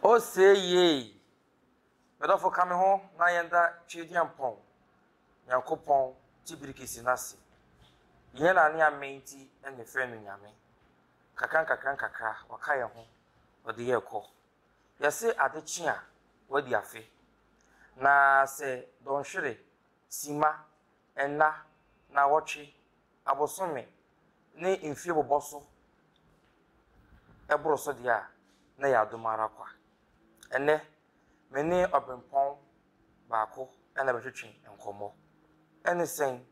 O see yeei! Me dɔfo ka me ho na yɛn da Tweaduampɔn Nyankopɔn te birikisi no ase. Yɛn na ne ammɛn nti na yɛfrɛ no Nyame. Nkakrankakra-nkakra waka yɛn ho ɔde yɛ rekɔ. Yɛse ade kye a wadi afe. Na sɛ dɔnhwere, simma, nna, naawɔtwe, abosome ne mfie bobɔ so boro so deɛ a, na ɛyɛ adom ara kwa. Ɛnnɛ, me ne ɔberempɔn baako na ɛretwetwe nkɔmmɔ. Ɛne sɛn?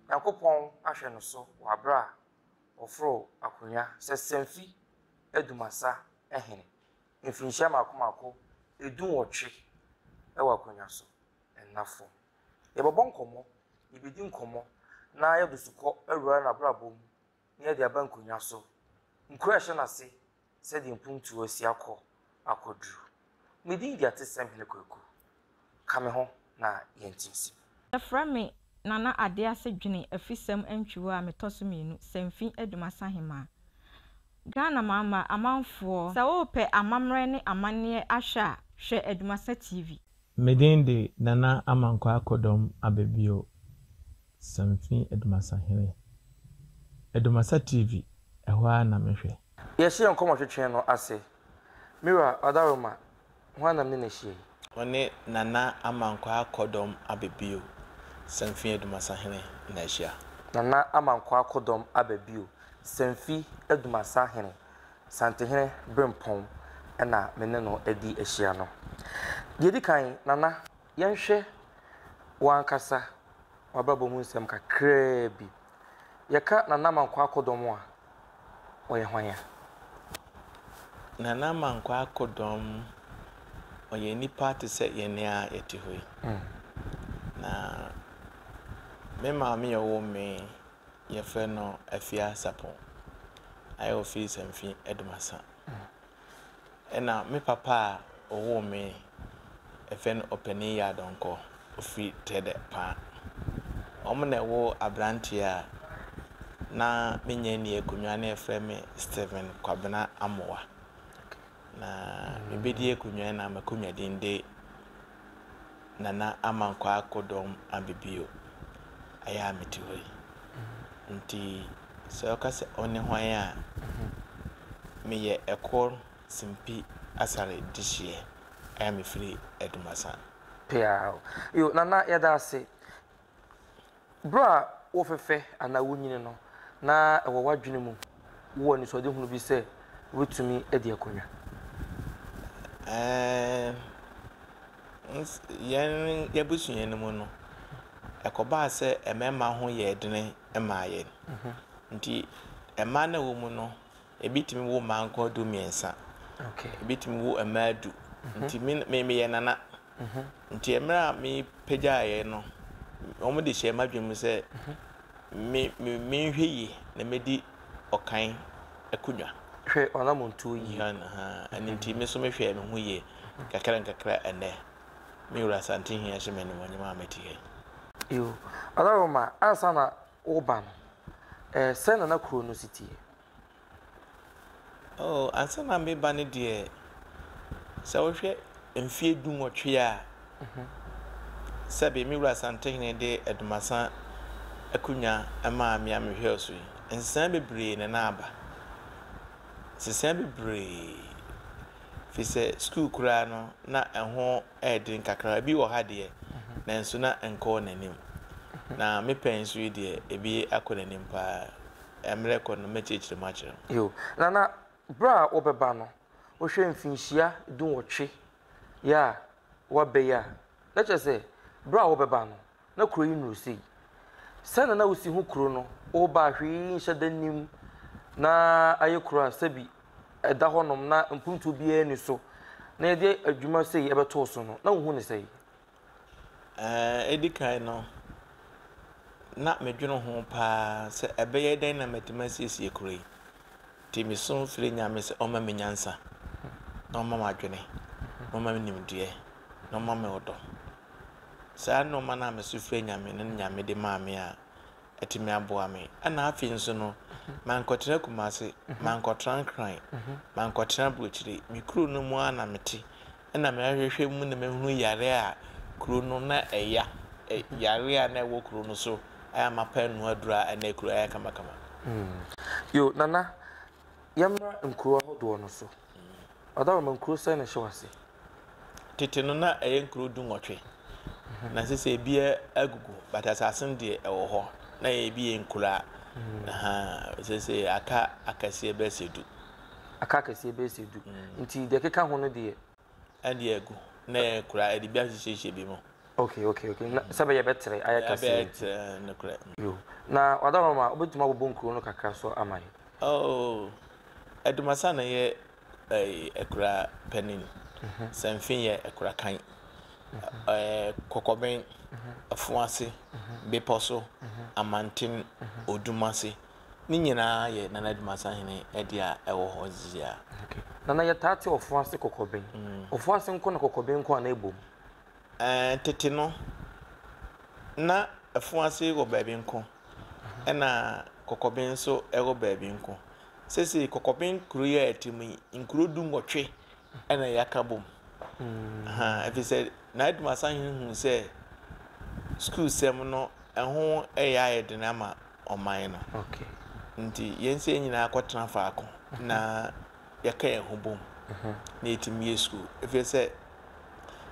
Nyankopɔn ahwɛ no so wɔ aberɛ a ɔforo akonnwa sɛ Semfi Adumasa Hene mfirinhyia mmaako mmaako du nwɔtwe wɔ akonnwa so nna fam. Yɛbɔbɔ nkɔmmɔ, yebedi nkɔmmɔ, na yɛde sukɔ awura n'abrabɔ mu na yɛde aba nkonnwa so. Nkuro a ɛhyɛ n'ase sɛdeɛ mpuntuo asi akɔ akɔduru. Me din de Atesɛm Hene Kwaku. Ka me ho na yɛnte nsimu. Yɛfrɛ me Nana Adease Dwene Afisɛm Antwiwa a metɔ so mmienu, Sanfi Aduma Sahemaa. Ghana Mama, Amanfoɔ, sɛ worepɛ amammerɛ ne amanneɛ ahwɛ a, hwɛ Adumasa TV. Me din de Nana Amankwa Akodɔm Ababio Samfi Adumasa Hene. Adumasa TV, ɛhɔ ara na me hwɛ. Yɛahyɛ yɛn nkɔmmɔtwetwe no ase. Me wura, Ɔdaroma, hwan na me ne no ahyia yi? Wɔne Nana Amankwa Akodɔm Ababio Samfi Adumasa Hene na ahyia. Nana Amankwa Akodɔm Ababio Samfi Adumasa Hene. Santehene Brempong na me ne no adi ahyia no. Deɛ ɛdi kan, Nana, yɛnhwɛ wo ankasa w'abrabɔ mu nsɛm kakraa bi. Yɛka Nana Mankwaa Akodɔm a, ɔyɛ hwan a? Nana Mankwaa Akodɔm, ɔyɛ nipa te sɛ yɛn a yɛte hɔ yi. Na me maame a ɔwoo me yɛfrɛ no Afiaseapɔn, ayɛ wɔ Fils and Fin Adumasa. Ɛna me papa a ɔwoo me, yɛfrɛ no Ɔpanin Yaa Donkor, ɔfiri Tɛdɛ Paa. Wɔn na ɛwoo aberanteɛ a na menyɛ nni akonnwa na yɛfrɛ me Stephen Kwabena Amoah. Na mebɛdi akonnwa yi na m'akonnwa din de Nana Amankwaa Akpodɔm aba bio, ayɛ a mete hɔ yi. Nti sɛ ɔka sɛ ɔne hwan a, meyɛ Ɛkor Simpi Asare dehyeɛ a mefiri Adumasa. Peaw. Yo, Nana, yɛda ase. Bere a wofɛfɛ anaa wunyin no, na ɛwɔ w'adwene mu wɔ anisoadehunu bi sɛ wubetumi adi akonnwa? Yɛn abusua no mu no, ɛkɔbaa sɛ mmarima ho yɛɛ den maa yɛn. Enti mmaa no a wɔwɔ mu no, Ebi tumi wo mmaa nkoa du mmiɛnsa. Ebi tumi wo mmaa du. Mhm. Nti me me meyɛ nana. Mhm. Nti mmerɛ a mepagyaeɛ no, wɔn de hyɛɛ m'adwene mu sɛ mhm. me me menhwɛ yie na medi ɔkan akonnwa. Hwɛ ɔnamontuo yie. Ɛno nti me nso mehwɛɛ me ho yie kakra nkakra ɛnɛ. Me wura Asante Hia hyɛ me animuonyam a mete ha yi. Yo, Adaroma, ansa na woba no, eh, sɛ nana kuro no si teɛ? Oh, ansa na mereba no deɛ, sɛ wohwɛ mfeɛ du nwɔtwe a, sɛbe me Wura Asantehene de Adumasan akonnwa maa me a mehwɛ so yi, nsesaeɛ bebree na na aba. Nsesaeɛ bebree. Firi sɛ sukuu koraa no, na ɛho yɛ den kakra. Ebi wɔ ha deɛ, nanso na ɛnkɔɔ n'anim. Na me pɛ nso yi deɛ, ebi akɔ n'anim paa. mmerɛ kɔ no, mɛkyerɛkyerɛ mu akyerɛ mo. Yiw, na na bere a wobɛba no, wohwɛ mfinhyia dunwɔtwe yi a woaba yi a, na kyerɛ sɛ, bere a wobɛba no, na kurow yi nnuru sei. Sɛnea na wusi hu kurow no, woreba a, hwee nhyɛ da nnim. Ná ayɛ kurow a sɛbi ɛda hɔnom na mpontuo biara nni so. Na yɛde adwuma sei bɛtoo so no, na wuhu no sɛn? Ɛɛ ɛdi kan no, na medwene ho pa ara sɛ ɛbɛyɛ dɛn na matumi asiesie kuro yi. Nti mesu frɛɛ Nyame sɛ ɔmma me nyansa, na ɔmma me adwene, na ɔmma me nimdeɛ, na ɔmma me ɔdɔ. Saa nnoɔma no a mesu frɛɛ Nyame no na Nyame de maa me a atumi aboa me. Ɛna afei nso no, mankɔtena Kumase, mankɔtena Nkran, mankɔtena Aburokyire. Me kuro no mu ara na mete. Ɛna me ahwɛhwɛ mu na mahunu yare a kuro no na ɛya ɛ yare a na ɛwɔ kuro no so a mapa ɛno aduro a ɛna kuro ayɛ kamakama. Yoo Nana yɛmmra nkuro ahodoɔ no so. Ɔdawuroma nkuro sɛn na ɛhyɛ wo ase? Tete no na ɛyɛ nkuro du nwɔtwe na sesei ɛbia agugu but asase no deɛ ɛwɔ hɔ na ɛyɛ ɛbi yɛ nkuro a ahaa sesei aka akɛseɛ bɛsɛ du. aka kɛseɛ bɛyɛ sɛ du, nti deɛ ɛkeka ho no deɛ. Ɛde agu na yɛakura de bi ahyehyɛhyɛ bi mu. Okay, okay, okay, na sɛ bɛyɛ bɛtere ayɛ kɛseɛ. Ɛbɛyɛ tere, nokorɛ. Yo, na Ɔdawurama, wobɛtumi abobɔ nkuro no kakra so ama yɛn? Oh, Adumasa na ɛyɛ akura panin, Sanfin yɛ akura kan, Kɔkɔben, Afuase, Bepɔso, Amanten, Odumase. Ne nyinaa yɛ Nana Adu Mensah hene de a ɛwɔ hɔ seesei Okay. Nana yɛtaa te Ɔfoase Kɔkɔben. Mm. Ɔfoase nko na Kɔkɔben nko a na ɛbom? Ɛɛ eh, tete no na Ɔfoase wɔ baabi nko ɛna Kɔkɔben nso ɛwɔ baabi nko. Seesei Kɔkɔben kuro yi a ɛte mu yi nkuro du nwɔtwe ɛna yɛaka bom. Mm. Ha, ɛfiri sɛ Nana Adu Mensah hene hu sɛ sukuu sɛm no ɛho ɛyɛ ayɛ den ama ɔman no. Ntsi hɛn sɛ hɛn nyina kɔtsena faako na yɛka hɛnho bɔ mu na yetsim yɛ skuul. Efir sɛ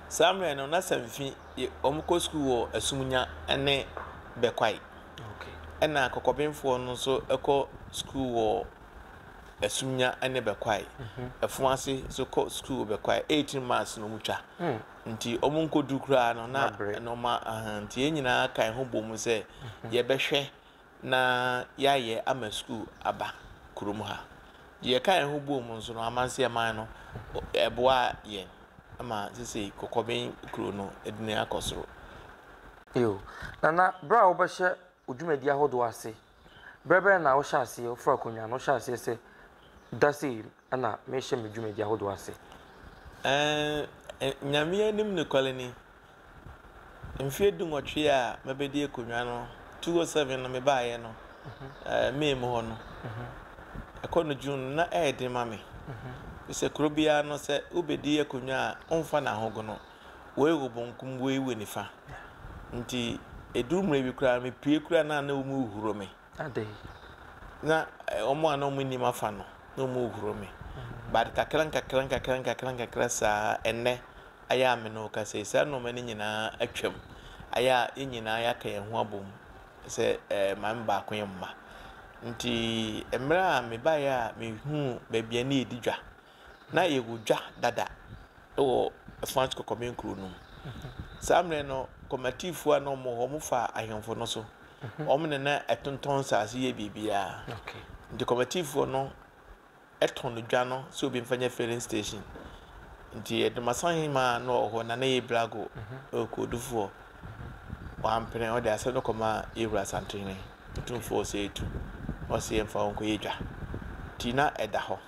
saa mberɛ no na Samfi yɛ wɔkɔ skuul wɔ Asumnya ne Bɛkwae. Nna Kɔkɔbenfoɔ no so kɔ skuul wɔ Asumnya ne Bɛkwae. Ɛfon ase so kɔ skuul wɔ Bɛkwae. Eighteen months na wɔtwa. Nti ɔmo nkodu koraa no na Mabre. ɛno ma ahaa nti yɛn nyinaa ka yɛn ho bɔ mu sɛ yɛbɛhwɛ na yɛayɛ ama sukuu aba kurom ha. Deɛ yɛka yɛn ho bɔɔ mu nso no amanseɛman no ɔ- ɛboaa yɛn ma sesei kɔkɔben kuro no adini akɔ soro. Eo. Nana, berɛ a wobɛhyɛ wo dwumadie ahodoɔ ase Berɛ bɛn na wohyɛ aseɛ, woforo akonnwa no, wohyɛ aseɛ sɛ, Da sei na merehyɛ me dwumadi ahodoɔ ase? Ɛɛ, Nyame anim nokware ni, mfeɛ dunwɔtwe a mabɛdi akonnwa no, 2007 no mebaeɛ no, May mu hɔ no, ɛkɔ no June no, na ɛyɛ den ma me. Ɛfiri sɛ kuro biara no, sɛ wobɛdi akonnwa a, womfa no ahogono. Woi wo bonkum woi wo nifa nti ɛduru mmerɛ bi koraa me pue koraa na na wɔn rehuro me. Adɛn. Na wɔn a na wɔn nim afa no na wɔn rehuro me but kakra nkakra nkakra nkakra nkakra saa ɛnɛ ayɛ a me ne wo kasa yi saa nneɛma no nyinaa atwam ayɛ a yɛn nyinaa yɛaka yɛn ho abom sɛ ɛɛ maame baako yɛ mma nti mmerɛ a mebaeɛ a mehuu baabi a ne yɛdi dwa. Na yɛwɔ dwa dada wɔ Franche Kɔkɔmɛ nkuro no mu. Saa mmerɛ no Komatifoɔ a na wɔwɔ hɔ wɔn faa ahemfo no so. Wɔn na na ɛtontɔn nsaase yɛ biribiara. Nti Komatifoɔ no tɔn dwa no sɛ obi mfa nyɛ filling station. Nti Adumasan hemaa a na ɔwɔ hɔ Nana Yebrago Okodufoɔ wampene ɔde asɛm no kɔmaa Yewura Asantenhene Otumfoɔ Osei Atuu na ɔse yɛmfa hɔ nkɔyɛ dwa. Nti na ɛda hɔ.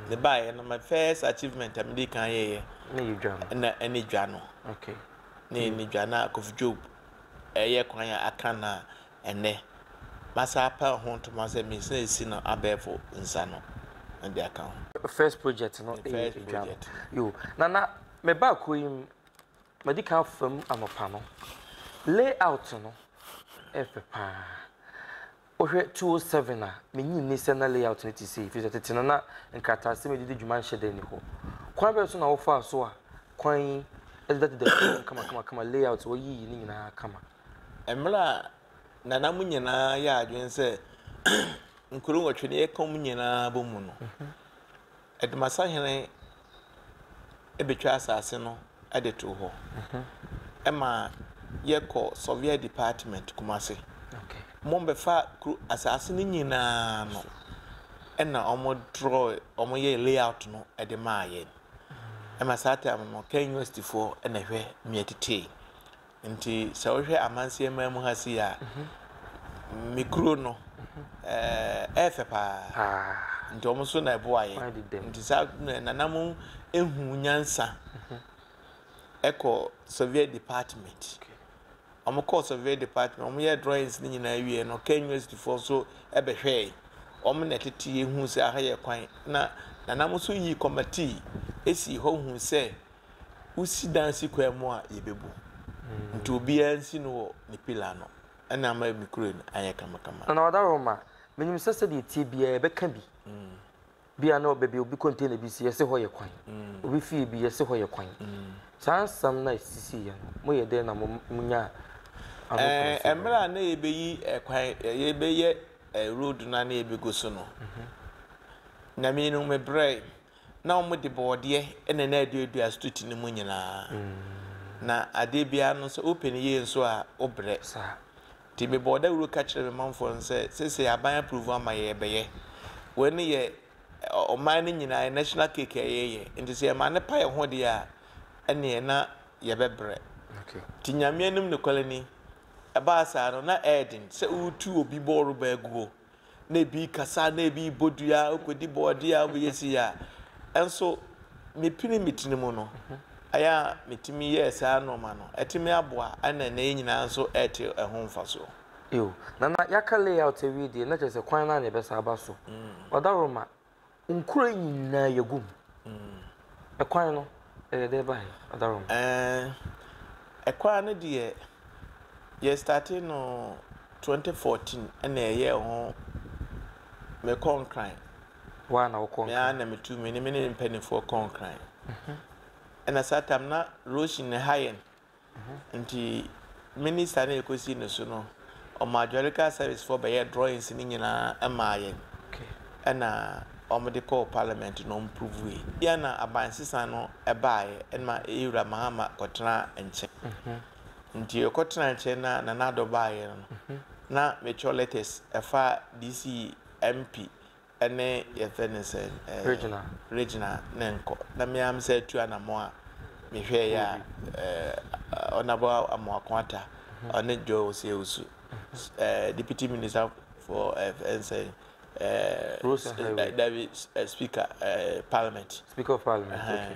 Mebaeɛ no, my first achievement a medii kan yɛeɛ na ɛne dwa no. Na yɛn ne dwa no a Kofi Job ɛyɛ kwan a aka no a ɛnnɛ masa apɛ ho ntoma sɛ mesa asi no abɛɛfo nsa no na de aka ho. First project no ɛyɛ dwa no. Yo, na na mebaa kuo yi mu, madi kan afa mu anɔpa no. Layout no ɛyɛ fɛ paa. Wohwɛ 207 a, minnye nni sɛ na layout no te sei, efisɛ tete no na nkrataasɛm a edidi dwuma nhyɛ da nni hɔ. Kwan bɛn so na wɔfaa so a kwan yi de da deda fam kamakamakama layout a wɔayiyi no nyinaa kama? Mmere a na na mo nyinaa yɛ adwene sɛ nkurow nwɔtwe na yɛka wɔn nyinaa bɔ mu no, Adumasahene bɛtwaa asase no de too hɔ ma yɛkɔ Surveyor Department Kumasi. Wɔbɛfaa kuro asase no nyinaa no na wɔn drawe wɔn yɛɛ layout no de maa yɛn. Ɛma saa time no Kenya Universityfoɔ na ɛhwɛ mea titee. Nti sɛ wohwɛ amanseɛ man mu ha sei a, me kuro no ɛyɛ fɛ paa. Nti wɔn nso na ɛboa yɛ. Nti saa nana mo ehu nyansa ɛkɔ survey department. Wɔn kɔ survey department, wɔn yɛ drawings ne nyinaa wie no, Kenya University foɔ nso ɛbɛhwɛɛ. Wɔn na ɛtete ehu sɛ aha yɛ kwan. Na nana mo nso yi kɔmatii esi hɔ hu sɛ wosi dan si kwan mu a yɛbɛbu. Nti obiara nsi no wɔ ne pillar ano. Ɛna ama me kuro no ayɛ kamakama. Nana Wadaroma, Menim sɛ sɛdeɛ ɛteɛ biara yɛbɛka bi. Bi a na baabi a obi container bi si yɛse hɔ yɛ kwan. Obi fie bi yɛse hɔ yɛ kwan. Saa nsɛm no a ɛsisiiɛ no moyɛ dɛn na monyaa ano kwan sii hɔ? Mmerɛ a na yɛbɛyi kwan, yɛbɛyɛ road no a na yɛbɛgu so no, na me no mebrɛɛ. Na wɔde bɔɔdeɛ na na aduadua stuti no mu nyinaa. Na adeɛ biara no, sɛ wopɛ no yie nso a, wobrɛ. Nti mebɔɔ dawuro ka kyerɛɛ me manfoɔ no sɛ, seesei aban approve ama yɛn, yɛbɛyɛ. Wei no yɛ ɔman no nyinaa, ɛyɛ national cake a yɛreyɛ. Nti sɛ yɛma no pa yɛn ho deɛ a, ɛnneɛ na yɛbɛbrɛ. Nti Nyame anim nokware ni, ɛbaa saa no, na ɛyɛ den sɛ woretu obi bɔɔrobaa guo. na ebi rekasa, na ebi rebɔ dua, wokɔdi bɔɔdeɛ a, wobɛyɛ si a. Nso mepini me tiri mu no, ɛyɛ a metumi yɛɛ saa nnoɔma no. Atumi aboa, ɛna ɛnɛ yɛn nyinaa nso ɛrete ɛho mfasoɔ. Eo. Nana, yɛaka layout awie deɛ, na kyerɛ sɛ kwan no ara na yɛbɛsan aba so. Ɔdaworo ma, Nkuro yi nyinaa yɛgu mu. Ɛkwan no, ɛyɛ dɛ ba he, Adarom? Ɛɛ, kwan no deɛ, yɛstate no twenty fourteen na yɛyɛɛ ho, mekɔ Nkran. Woaa na wokɔ Nkran? Me ara na metu, me ne me ne me mpaninfoɔ kɔ Nkran. Ɛna saa tam na Roshin ne Hayen Ntsi minister no a yekosii no so no, ɔmaa geological service foɔ bɛyɛɛ drawings no nyinaa maa yɛn na wɔde kɔɔ parliament na wɔprovue. Bi a na abansesa no baeɛ na yewura Mahama kɔtenaa nkyɛn. Nti yɛkɔtenaa nkyɛn na Nana Addo baeɛ no na metwerɛ letters ɛfa DC, MP ne yɛfrɛ no sɛn ɛɛ Regina ne nkɔ na me ara me san tu anamɔn a me hwɛɛ yɛ a ɛɛ Honourable Amoako Atta ɔne Joy Osei Owusu ɛɛ Deputy Minister for ɛɛ nsɛn ɛɛ Rose Naiwe dabi Speaker ɛɛ Parliament Speaker of Parliament okay ɛhɛn.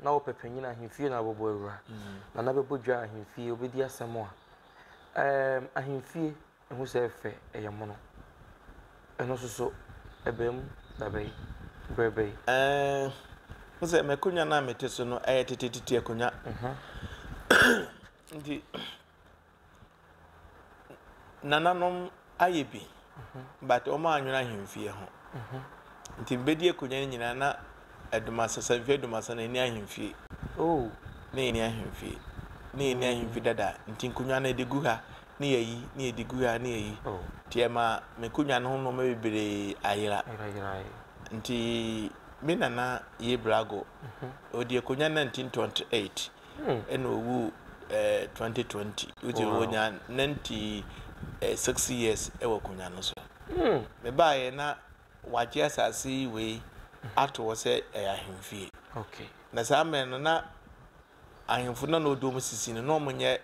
Na ɔpɛ panyin ahemfie na ɔbɛbɔ awura, na na bɛbɔ dwa ahemfie, ɔbɛdi asɛm a ɛɛm ahemfie, ɛhu sɛ ɛfɛ, ɛyɛ mono. Ɛno nso so, ɛbaa mu da bɛn? Berɛ bɛn? Ɛɛm, wo sɛ m'akonwa no a mete so no, ɛyɛ tetetete akonwa. Nti, nananom ayɛ bi but wɔn anwene ahemfie ho nti bɛdi akonnwa no nyinaa na adumasɛ sanfie adumasɛ no ɛni ahemfie oh na ɛni ahemfie na ɛni ahemfie dada nti nkonnwa no ɛde gu ha ne yɛyi ne yɛde gu ha ne yɛyi oh. nti ɛma me konnwa no ho nnoɔma bebree ayera nti me nana yɛ brago ɔdi mhm. akonnwa 1928 ɛna ɔwu ɛɛ twenty twenty nti ɔnya ninety six years wɔ akonnwa no so mebaeɛ na wagye asase yi wei ato hɔ sɛ ɛyɛ ahemfie na saa mmerɛ no na ahemfo no na ɔdi wɔn sisi no na wɔnyɛ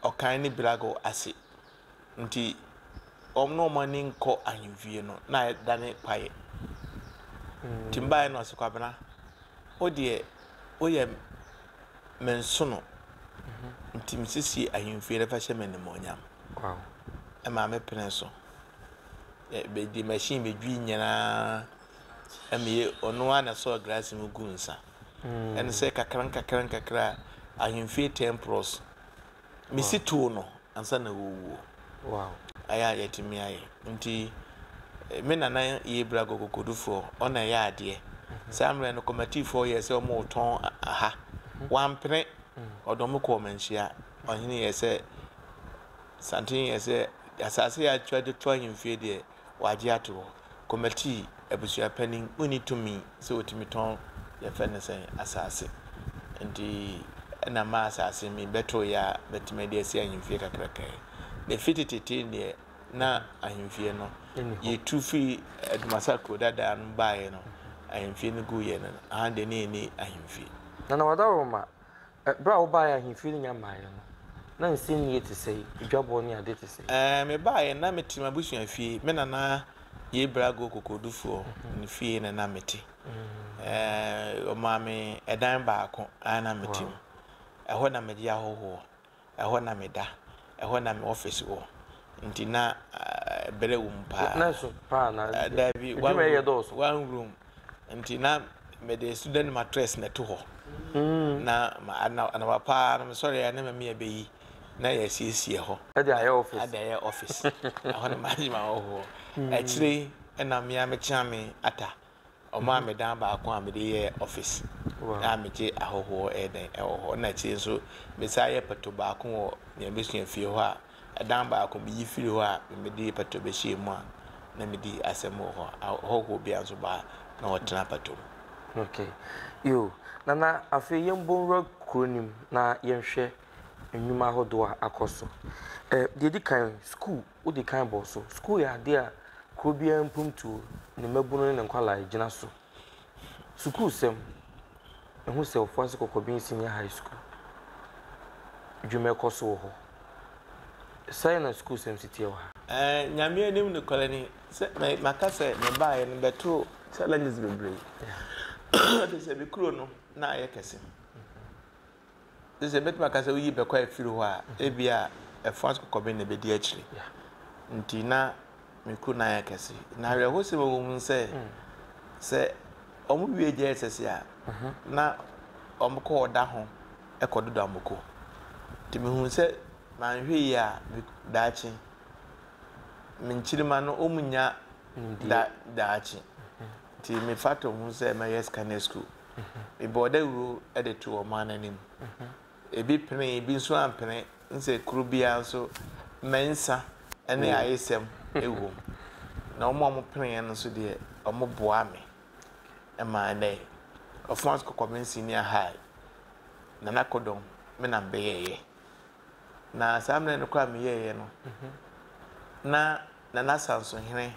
ɔkan ne birago ase. Nti wɔn na wɔn ani nkɔ ahemfie no na adane kwaeɛ. Nti mebaeɛ na ɔse Kwabena wo deɛ woyɛ me nsono nti mesiesie ahemfie no fa hyɛ me animuonyam. Ɛmaa me penee so. Mede machine bɛdwii nyinaa meyɛ ɔno ara na ɛsɔɔ glass mu gu nsa. Ɛne sɛ kakra nkakra nkakra ahemfie ten plots. mesi too no ansa na ɔrewu o. Ayɛ a yɛatumi ayɛ. Nti me nana yɛ bra Gogokodufoɔ, ɔna ɛyɛ adeɛ. Saa mmerɛ no Komatifoɔ yɛɛ sɛ wɔretɔn aha. Wampene, ɔde wɔn kɔɔ Manhyia. Ɔhene yɛɛ sɛ, Santene yɛɛ sɛ, asaase a yɛatwa de to ahemfie deɛ, Wɔagye ato hɔ. Kɔmatii, abusuapanin, onni tumi sɛ otumi tɔn, yɛfrɛ no sɛn, asase. Enti na ma asase me bɛtoo yɛ a, mɛtumi ade asi ahemfie kakraka yi. Na efi tetetee deɛ na ahemfie no, yɛtu firi Dumasa kuro dadaa no baeɛ no, ahemfie no guiɛ no, aha deɛ na yɛnni ahemfie. Nana Wadawuruma, Bere a wobae ahemfie no nya mmaeɛ no, na nsɛnnua te sɛn, adwabɔ ne ade te sɛn? Mebaeɛ no, na mete m'abusua fie. Me nana yei Brago kokodufoɔ no fie na na mete. Wɔmaa me dan baako a na mete mu. Ɛhɔ na megye ahɔhoɔ. Ɛhɔ na meda. Ɛhɔ na me office wɔ. Nti na brɛ wɔ mu paa. Nurse paa na adwuma yɛ dɔɔso. One room nti na mede student mattress na ɛto hɔ. Na anɔpa paa no me sɔre a na Mami abɛyi na yɛasiesie hɔ. Ɛde ayɛ office. Ɛde ayɛ office. Ɛhɔ na m'adwuma wɔ hɔ. Akyire yi na me ara me kyeame ata. Ɔmaa me dan baako a mede yɛɛ office a megye ahɔhoɔ yɛ dɛn wɔ hɔ na akyire nso mesan yɛ pɛto baako wɔ nea mɛsua fie hɔ a ɛdan baako meyi firi hɔ a mede pɛto bɛhyɛɛ mu a na medi asɛm wɔ hɔ a ahɔhoɔ biara nso ba a na wɔtena pɛto mu. Okay. Yo, Nana afei yɛmbɔ nwura kuro no mu na yɛnhwɛ nnwuma ahodoɔ a akɔ so. Ɛ, deɛ ɛdi kan, sukuu. Wodi kan bɔ so. Sukuu yɛ ade a kurow biara mpuntuo, ne mmabunu ne ne nkwadaa gyina so. Sukuusɛm, Ehu sɛ Ofoase Kɔkɔben Senior High School dwuma ɛkɔ so wɔ hɔ. Sɛn na sukuusɛm si teɛ wɔ ha? Ɛɛ, Nyame anim nokorɛ ni sɛ maka sɛ mebaeɛ no bɛtoo challenges bebree. Ɛfiri sɛ me kuro no na ayɛ kɛse. Sesei mɛtumi aka sɛ woyi bɛkɔ afiri hɔ a, ebia ɛfã kɔkɔben na ebedi akyiri. Nti na me kuru no ayɛ kɛse. Na awerɛhosɛm a ɛwɔ mu sɛ, sɛ wɔwie JSS a, na wɔkɔ ɔda ho kɔdodɔ amoko. Nti mihuu sɛ manhwɛ yie a, daakye me nkyirimma no wɔrennya daakye. Nti mefata ho sɛ mɛyɛ scanner sukuu. Mebɔɔ dawuro de too ɔman no anim. Ebi penee, ebi nso ampene, nsɛ kuro biara nso mmɛn nsa ne ayesɛm wom. Na wɔn a wɔpeneeɛ no nso deɛ, wɔboaa me ma ɛnnɛ yi, Ɔfons Kɔkɔmen Senior High na na Kodong me na mebɛyɛeɛ. Na saa mmerɛ no koraa a meyɛeɛ no, na Nana Asansohene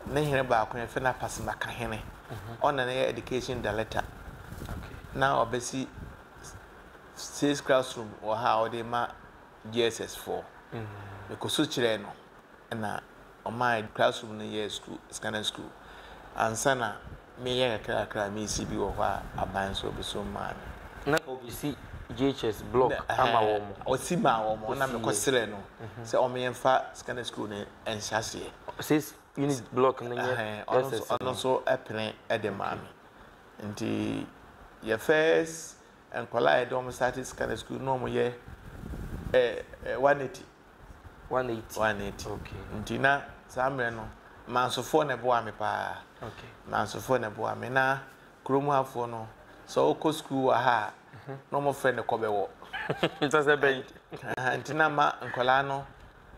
Ne hene baako no yɛfrɛ no Apasemakahene. Ɔna ne yɛ education director. Na ɔbɛsi six classroom wɔ ha a ɔde ma JSS foɔ. Mekɔsu kyerɛɛ no na ɔmaa classroom no yɛɛ school, scanner school. Ansa na mereyɛ kakrakra a meresi bi wɔ hɔ a aban nso ɔbɛsom maa me. Na ɔbɛsi JHS block ama wɔn. Ɔsi maa wɔn, ɛna mekɔsrɛɛ no sɛ ɔmenyɛ mfa secondary school no nhyɛ aseɛ. Six unit block no nyɛ SS no. Ɔno nso pene de maa me. Nti yɛ first nkwadaa a yɛde wɔn startee secondary school no na wɔyɛ 180. 180. 180. Okay. Nti na saa mmerɛ no, Mansofoɔ na ɛboaa me paa. Okay. Mansofoɔ na ɛboaa me. Na kurom hafoɔ no, sɛ wokɔ sukuu wɔ ha a, na wɔfrɛ no kɔbɛwɔ. Nsa sɛ bɛyi. Aha, Nti na ma nkwadaa no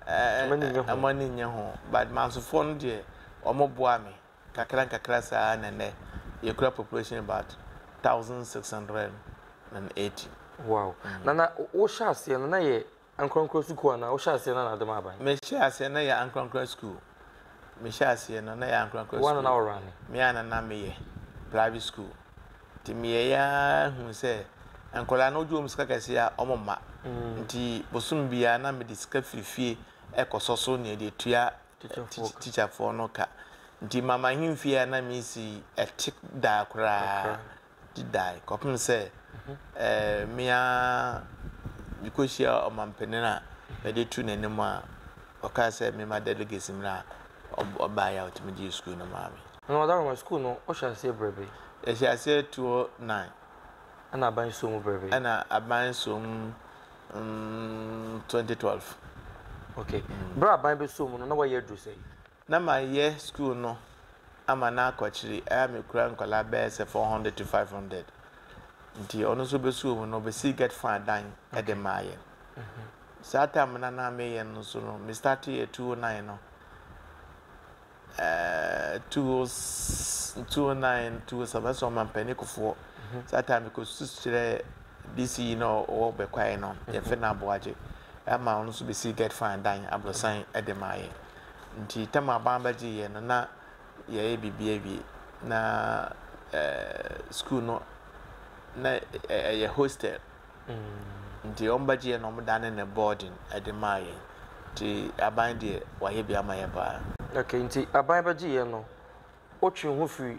eh, Ɔmo ani nnye ho. eh, ɔmo ani nnye ho. But Mansofoɔ no deɛ, wɔn boa me kakra nkakra saa na nnɛ yɛkura population about 1,680. Wow. Na na wo- wohyɛ aseɛ no na yɛ Ankorankoro sukuu anaa wo hyɛ aseɛ no anaa dema aban. Me hyɛ aseɛ na yɛ ankorankora sukuu me hyɛ aseɛ no na yɛ ankorankora sukuu wo ana na wo rane. Me ana na me yɛ private sukuu nti me yɛ yɛ aa huu sɛ nkɔdaa no wo gye wɔn sika kɛseɛ a wɔn mma nti bosome biara na me de sika firi fie ɛkɔ sɔ so neɛ de tua teacher foɔ no ka nti mama he mfie a na me si ɛte daa koraa. dedae kɔpem sɛ me ara mekɔhyia ɔmampanin a mede too n'anim a ɔkaa sɛ memma delegates mmra a ɔbaeɛ a ɔtumi gyee sukuu no maa me. Na Maame Adawoma, sukuu no wohyɛɛ aseɛ berɛ bɛn? Yɛhyɛɛ aseɛ 2009. Ɛna aban soo mu berɛ bɛn? Ɛna aban soo mu 2012. Okay. Berɛ a aban bɛsoo mu no, na woayɛ aduru sɛn? Na mayɛ skuul no ama no akɔkyere a mekura nkɔlaa bɛyɛ sɛ four hundred to five hundred nti ɔno so bɛsuo mu no ɔbɛsii gɛt faa dan de maa yɛn. Saa taem no a na meyɛ no nso no me stateeɛ two oh nine no eh, two oh s two oh nine two oh seven ɛsɛ ɔmampanin kofoɔ saa taem mekɔsu kyerɛɛ DC yi na ɔwɔ bɛkwaeɛ no yɛfrɛ no Aboagye ama ɔno nso bɛsii gɛt faa dan aborosan de maa yɛn. Ntsi tam a aban bɛgye hɛn no na yɛayɛ biribi ewie na skuul no na ɛyɛ hostel ntsi wɔbɛgye hɛn na wɔdanee no boarding dze maa hɛn ntsi aban deɛ wɔayɛ bi ama hɛn paa. Okay, ntsi aban bɛgye hɛn no wotwee ho fir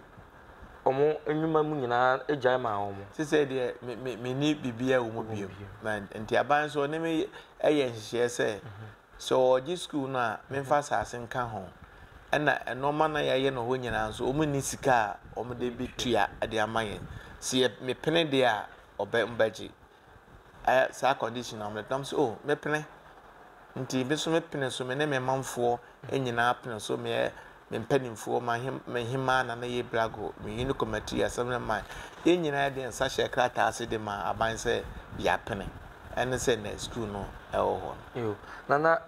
hɔn nwuma mu nyina gyae maa hɔn? Sesei deɛ menni biribiara wɔ mu bio, ntsi aban so ɔne me yɛ nhyehyɛɛ sɛ Sɛ wɔregye sukuu no a, memfa asase nka ho. Ɛnna nneɛma no a yɛayɛ no hɔ nyinaa nso, wɔnni sika a wɔde betua de ama yɛn. Sɛ yɛ mepene deɛ a, wɔbɛ wɔbɛgye. Ɛ, saa condition na wɔde. Na mese, o, mepene. Nti me nso mepene so, me ne me manfoɔ nyinaa pene so. Meyɛ me mpanimfoɔ, m'ahemaa Nana Yei Brago, me Uni Committee, Assembly man, yɛn nyinaa yɛde yɛn nsa hyɛɛ krataa ase de maa aban sɛ yɛapene, ɛne sɛ nnɛ sukuu no wɔ hɔ no. Yo, na na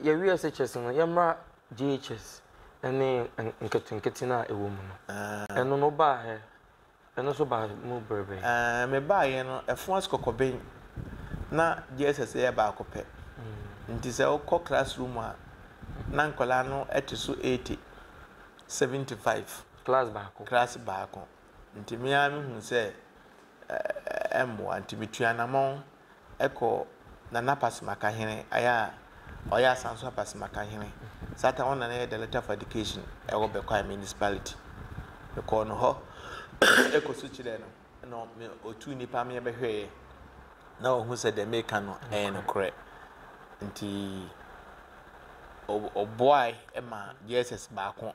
yɛawie SHS no, yɛmmra JHS ne nketenkete no a ɛwɔ mu no. Ɛno no, wobaa hɛ, Ɛno nso baa mu bere bɛn? Ɛɛ, mebaeɛ no, ɛfo ase kɔkɔbɛn. Ná JSS yɛ baako pɛ. Enti sɛ wokɔ classroom a, na nkwadaa no te so eighty, seventy five. Class baako? Class baako. Nti me ara mehuu sɛ ɛmmoa, nti metuu anamɔn. kɔ Nana Pasemaka hene ayɛ a ɔyɛ Asanso Apasemaka hene satan ɔno na na yɛ Director of Education ɛwɔ Bekwai Municipality me kɔɔ no hɔ ɛkɔ so kyerɛɛ no na me ɔtuu nipa me ɛbɛhwɛɛ na ɔhu sɛ deɛ meka no ɛyɛ no korɛ nti ɔboae ma JSS baako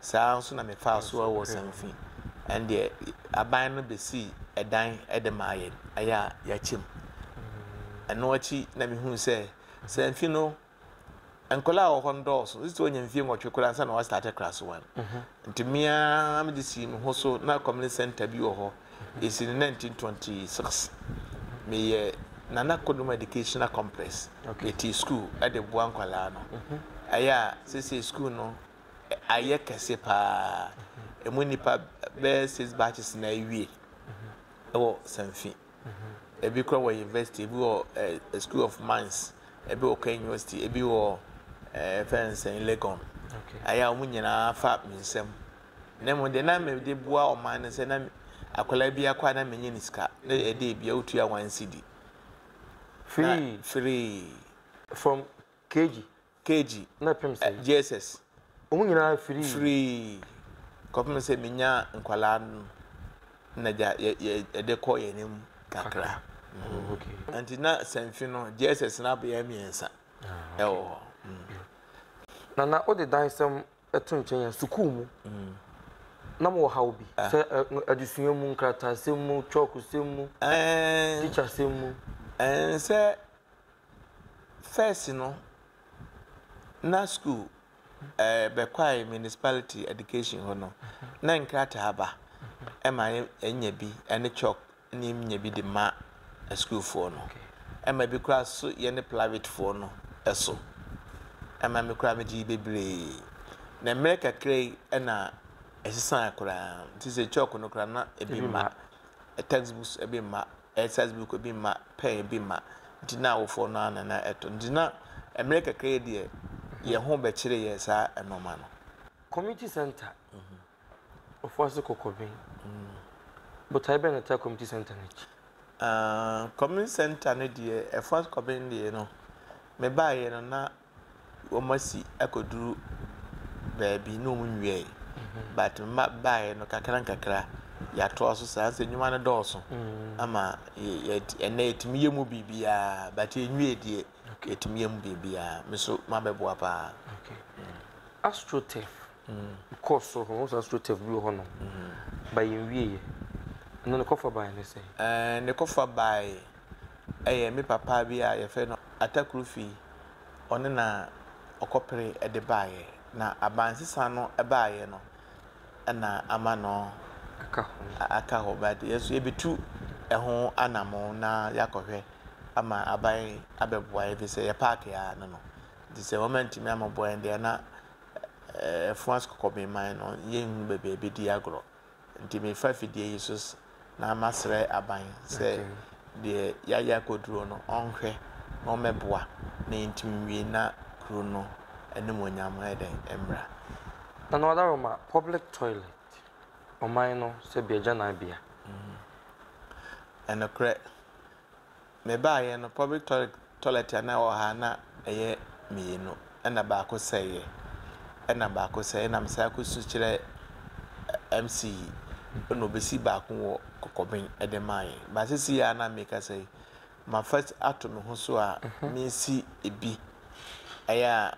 Saa ara nso na mefaa so wɔ Ɔsɛmfi. Ɛndeɛ, aban no bɛsii ɛdan de maa yɛn, ɛyɛ a yɛakyɛ mu. Ɛno akyi na mehuu sɛ Sɛmfi no, nkwadaa a wɔwɔ hɔ no dɔɔso, gye sɛ wɔnya mfeɛ nwɔtwe koraa ansa na wɔastate class one. Nti me ara mede sii me ho so, na community centre bi wɔ hɔ, ɛsii no 1926. Meyɛ Nana Kodoma Educational Complex, metii sukuu de boa nkwadaa no. Ɛyɛ a seesei sukuu no ayɛ kɛse paa. Ɛmu nnipa bɛyɛ six batches na awie wɔ Sanfi. Ebi kora wɔ university, ebi wɔ eh, School of Mines, ebi wɔ Kenya University, ebi wɔ eh, fɛn sɛn Legon. Okay. Ayɛ a wɔn nyinaa fa me nsam. Na mmom deɛ na mede boa ɔman no sɛ na akwadaa bi akɔ a na menyɛ ne sika. Na ɛde ebia wotua one cedi. Free. Free. From KG. KG, ɛ, JSS. Wɔn nyinaa firii. Firii kɔpem sɛ menyaa nkwadaa no na gya yɛ yɛ yɛde kɔ yɛn anim kakra. Mm. Okay. Nti na sɛnfi no JSS no abɛyɛ mmiɛnsa ah, ɛwɔ hɔ. Mm. Nana wode dan sɛm ɛto nkyɛn yɛn sukuu mu. Mm. na mo wɔ ha obi ah. sɛ adesua mu nkratasɛm mu kyɔɔkosɛm mu eh. tikyasɛm mu eh, sɛ First no na skuul bɛkɔe municipality education hɔ no na nkrataa ba ma yenya bi ne chalk na yenya bi de ma skuulfoɔ no. Ɛma bi koraa so yɛ ne plavetfoɔ no so. Ɛma me koraa megyee bebree. Na mmerɛ kakra yi na ɛsesae koraa nti sɛ chalk no koraa na ebi mma, textbooks bi mma Ɛsɛ sɛ bikɔ bi ma pɛɛ bi ma nti na awofoɔ no ara na na ɛtɔ nti na mmerɛ kakra yi deɛ yɛn ho bɛkyere yɛn saa nnoɔma no. Community Centre, Ofoase Kɔkɔben, botaeɛ bɛn na ɛtaa Community Centre no akyi? Community Centre no deɛ, Ofoase Kɔkɔben deɛ no, mebaeɛ no na wɔasi akɔduru baabi na wɔnwiae, but mma baeɛ no kakra nkakra yɛatoa so saa sɛ nnwuma no dɔɔso mm. ama ɛnɛ yɛtumi yɛ mu biribiara but ɛnwie deɛ yɛtumi yɛ mu biribiara me so mabɛboa paa astrotef mm. kɔ so hɔ sɛ astrotef bi wɔ hɔ no mm. ba yɛnwieɛ ɛno ne kɔfa baeɛ ne sɛ ne kɔfa baeɛ yɛ me papa bi a yɛfrɛ no Atakru Fi, ɔno na ɔkɔpere de baeɛ. Na abansesa no baeɛ no na ama no aka hɔ. But yɛn nso yɛbɛtu ɛho anamɔn na yɛakɔhwɛ ama aban abɛboa yɛn ɛfiri sɛ yɛpaake ara no no. Nti sɛ wɔantumi ammɛboa yɛn deɛ na ɛfoa kɔkɔbeman no yɛnhunu baabi a yɛbɛdi agorɔ. Nti mefa fidie yi so na masrɛ aban sɛ deɛ yɛayɛ akɔduro no ɔnhwɛ na ɔmmɛboa na yɛntumi nwie na kuro no animuonyam ayɛ dɛn mmra. Nana Wadaroma, Public toilet, ɔman no sɛbea gyananbea. Ɛnokorɛ. Mebaeɛ no public toilet toilet a na ɛwɔ ha na ɛyɛ mmienu ɛna baako sɛeɛ ɛna baako sɛeɛ ɛna mesan kɔ su kyerɛ ɛ MC ɛna ɔbɛsi baako wɔ kɔkɔben ɛde maa yɛn but sisi a na mekasa yi mafa ato me ho so a mesi ɛbi ɛyɛ a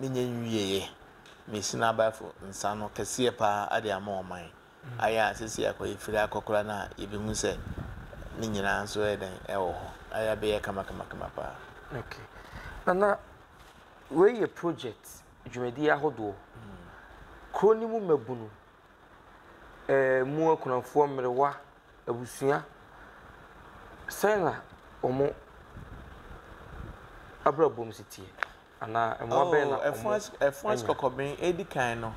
Mennya nwieeɛ. Mesi no abaefo nsa ano kɛseɛ pa ara de ama ɔman. Ayɛ a seesei akɔ efiri akɔkora no a yɛbɛhu sɛ ne nyinaa nso ɛyɛ dɛn? Ɛwɔ hɔ. Ayɛ a bɛyɛ kamakamakama pa ara. Ok. Nana, wei yɛ project dwumadie ahodoɔ. Kuro no mu mmabunu, ɛmu akunafoɔ, mmerewa, abusua, sɛn na wɔn abrabɔ mu si teɛ? Anaa mmoa bɛn na wɔanya? Oo, ɛfões kɔkɔben edi kan no,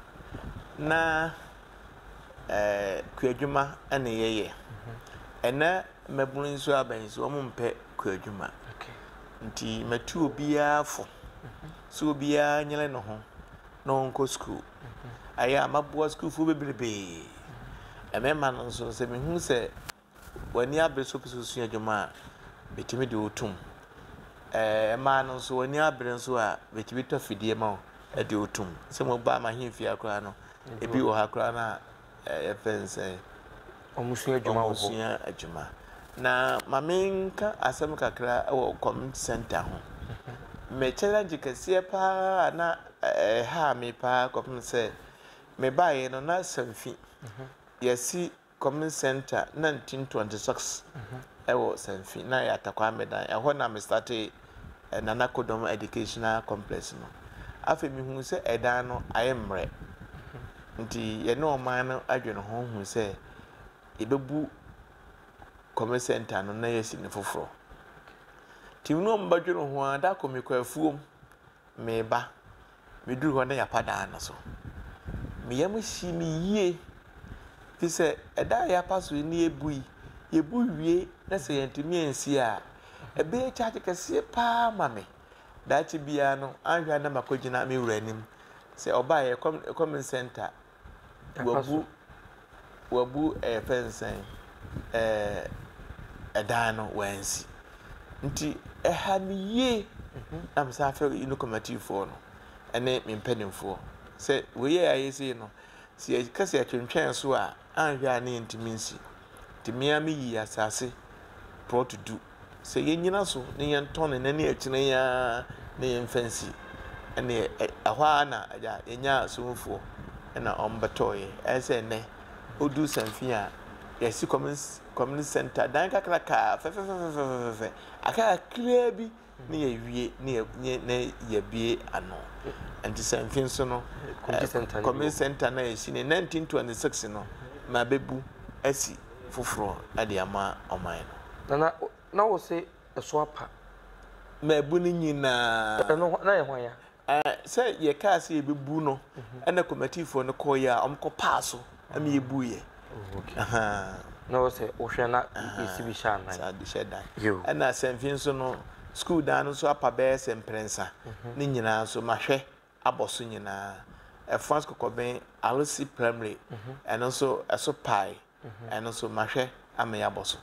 na kuadwuma na yɛyɛ. Ɛnnɛ mmabun nso aba yi nso, wɔmpɛ kuadwuma. Enti matu obiara fo sɛ obiara nyere ne ho na ɔnkɔ sukuu. Ayɛ a maboa sukuufo bebrebe. Mmarima no nso, sɛ mihu sɛ w'ani abere sɛ wopɛ sɛ wosua adwuma a, bɛtumi de wo tom. Ɛɛ mmaa no nso, w'ani abere nso a, bɛtumi tɔ fidie ma wo de wo tom. Sɛ mo baa m'ahemfie koraa no, ebi wɔ ha koraa no a yɛfɛ no sɛ wɔn sua adwuma wɔ hɔ. Wɔn sua adwuma. Na maame nka asɛm kakra wɔ community center ho. Me challenge kɛseɛ paa a na ɛhaa me paa kɔpem sɛ me baeɛ no na samfi yɛsi Common Centre na Ntim Twenty Six wɔ Sanfi na ɛyɛ Atakwame dan. Ɛhɔ na me startee Nana Kodom Educational Complex no. Afei me huu sɛ ɛdan no ayɛ mmerɛ nti yɛne ɔman no dwene ho huu sɛ yɛbɛbu Common Centre no na yɛasi no foforɔ. Nti me ne wɔn bɛdwene ho ara da koro me kɔ afuom Meba, meduru hɔ na Yapa dan no so. Me yam hyee me yie, firi sɛ ɛda a Yapa so yi na yɛbu yi, yɛbu wie na sɛ yɛantumi ansi a, ɛbɛyɛ charge kɛseɛ pa ara ama me. Daakye biara no, anhwɛ a na makɔgyina me wura anim sɛ ɔbaa yɛn comm common centre Wabu wabu yɛfrɛ no sɛn ɛɛ dan no wansi nti ɛha me yie na mesan frɛ yi no kɔmatifoɔ no ɛne me mpanimfoɔ sɛ wei yɛ ayɛ sei no sɛ yɛka sɛ yɛtwentwɛn so a anhwɛ a ne yɛntumi nsi. nti me ara meyii asase prɔt du sɛ yɛnnyina so na yɛntɔn no nnɛ ne akyire yi ara na yɛmfa nsi. Ɛnneɛ ɛ ɛhɔ ara na agya yɛnyaa asomfoɔ na wɔbɛtɔeɛ. Ayɛ sɛ nnɛ woduru Sanfin a, yɛasi community community centre, dan kakraka fɛfɛfɛfɛfɛfɛfɛ, akae kakraa bi ne yɛawie ne yɛ ne yɛ- ne yɛabue ano. Nti sɛ mfe nso no, Community eh, centre no bi community wɔ. centre no a yɛsi no 1926 no, mabebu asi foforɔ de ama ɔman no. Na na na wose ɛso apa. Mabu ne nyinaa. Ɛno hɔ- na yɛ hwan ya? Ɛ, sɛ yɛkaa sɛ yɛbɛbu no, ɛna kɔmatifoɔ no kɔeɛ a, wɔkɔpaa so ma yɛbuiɛ. Oh, ok. Ahaa. Na wo sɛ wohwɛ na yɛsi bi hyɛ anan. Saa bi hyɛ dan. Yo. Ɛna Asɛmfi nso no, sukuu dan no nso apa bɛyɛ sɛ mprɛnsa. Ne nyinaa nso, mahwɛ abɔ so nyinaa. Ɛfans Kɔkɔben Alesi Primary, ɛno nso, ɛso pae. Ɛno nso, mahwɛ ama yɛabɔ so.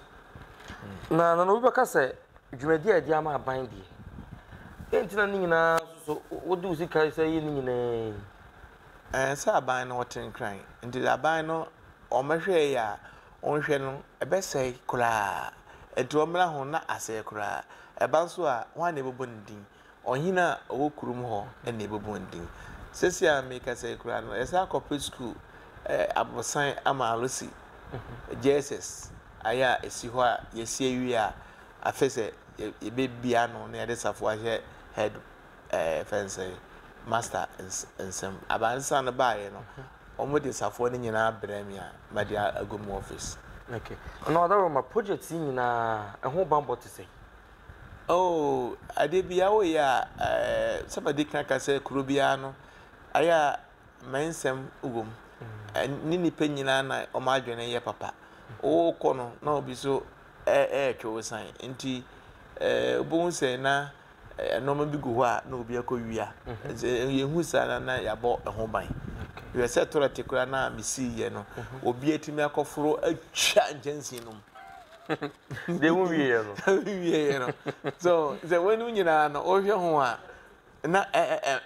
Na na obi bɛka sɛ, Dwumadi a yɛde ama aban deɛ, dɛn nti na ne nyinaa so wode wo sika sɛ yɛ ne nyinaa yi? Ɛɛ, sɛ aban no wɔte nkran, nti deɛ aban no wɔhwɛɛ yɛ a wɔnhwɛ no, ɛbɛsɛe koraa. Nti wɔmmra ho na asɛe koraa. Ɛba nso a, hwan na yɛbɛbɔ ne din? Ɔhene a ɔwɔ kurom hɔ na ɛbɛbu wɔn din. Seesei a merekasa yi koraa no, yɛsan akɔpɛ sukuu aborosan ama Lucy Jesus ayɛ a ɛsi hɔ a yɛasi awie a, afei sɛ yɛbɛbie ano na yɛde safoa ahyɛ head ɛɛ fɛn no sɛ master nsam. Aba nsa no baeɛ no, wɔde safoa no nyinaa brɛɛ me a mede agu mu office. Okay. Ɔno ɔdɔroma project yi nyinaa ɛho banbɔ te sɛn? Oh, adeɛ biara woyɛ a, ɛɛ, sɛ madi kan aka sɛ kuro biara no, ayɛ a mmɛnsɛm wɔ mu. Ne nnipa nyinaa na wɔn adwene yɛ papa. Wokɔ no na obi so ɛretwe wo san. Nti ɛɛ wobɛhu sɛ na nneɛma bi gu hɔ a na obi akɔwia. Mhm. Sɛ yɛhu saa na na yɛabɔ ɛho ban. Hwɛ sɛ tɔlɛte koraa no a mesiiɛ no, mhm. obi atumi akɔforo atwa nkyɛnsee no mu. deɛ wo wieɛ no. wieɛ no so sɛ wɔnom nyinaa no wohwɛ ho a na